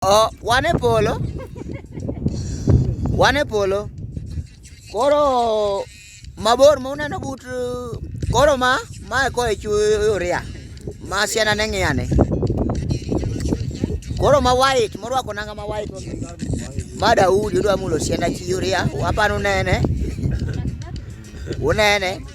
Oh, wan e polo. Wan e polo. Koro mabor ma uneno but koro ma ma e ko e churia. Ma siana ne ng'iyane. Koro ma white morwako nanga ma white. Ma Daudi odwa mulo siana chi uria. Wapanu nene. Unene.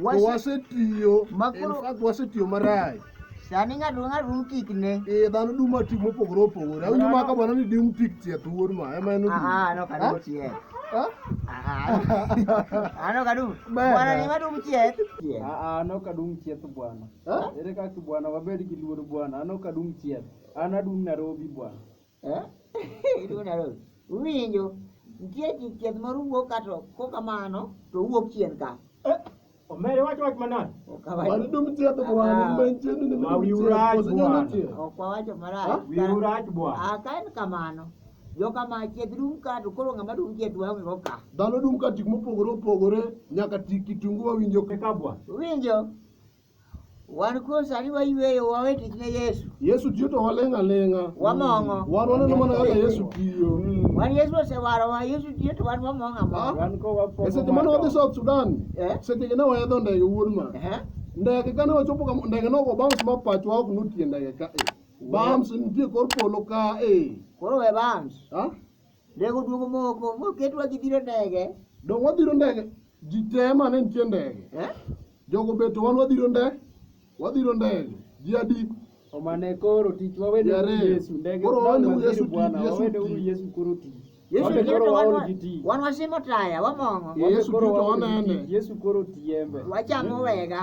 Wase- wasetiyo Makoro- in fact, wasetiyo marach Sani ng'ato ng'ato dum tikne. Eh, dhano duma tik mopogore opogore awinjo Dhano- ma ka bwana ni dum tik tieth wuod ma ema en odum. Aha, no kadum Ha? chieth. Ha? Aha. Ano kadum. Bana. Bwana ni madum chieth. Chieth. Aa, an ok adum chieth bwana. Ha? Ere kaka bwana wabed gi luor bwana, an ok adum chieth. An adum Nairobi bwana. Winjo, nitie chieth moro wuok ka to kokamano to owuok chien ka. Eh, omere wach wach manade? Mani dum chieth bwana, ah. mben chieth ni ma wiu rach bwana. Ok wawacho marach. Ah, wiu rach bwana. Ah, ka en kamano. Jo kama chieth dum ka to koro ng'ama dum chieth waonge go ka. Dhano dum ka tik mopogore opogore nyaka tik kitungu wawinjo. Eka bwana. Winjo. Wan kuom sani wayueyo wawe tich ne Yesu. Yesu tiyo to waling' aling'a. Wamong'o. Wan waneno mana kaka Yesu tiyo. Wan Yesu osewarowa, Yesu tiyo to wan wamong'o among'a. Wan ko wapo. E seche mane wadhi South Sudan, Eh? seche ne waidho ndege wuod ma. Ehe. Ndege kane wachopo kama, ndege nogo bounce ma pachwa ok notie ndege ka e. Bounce nitie kor polo ka e. Koro we bams. Ha? Ndege oduogo moko moketwa ji biro ndege. Donge wabiro ndege? Ji te ma ne nitie ndege. Eh? Jogo beto wan wabiro ndege. Wabiro ndege. Ji adi? Omane koro tich wawede uru Yesu. Ndege koro wawede uru Yesu tich. Wawede uru Yesu koro tich. Yesu biro to wan wan wasimo taya wamong'o. Yesu biro to wanene. Yesu koro tiembe. Wachamo wega.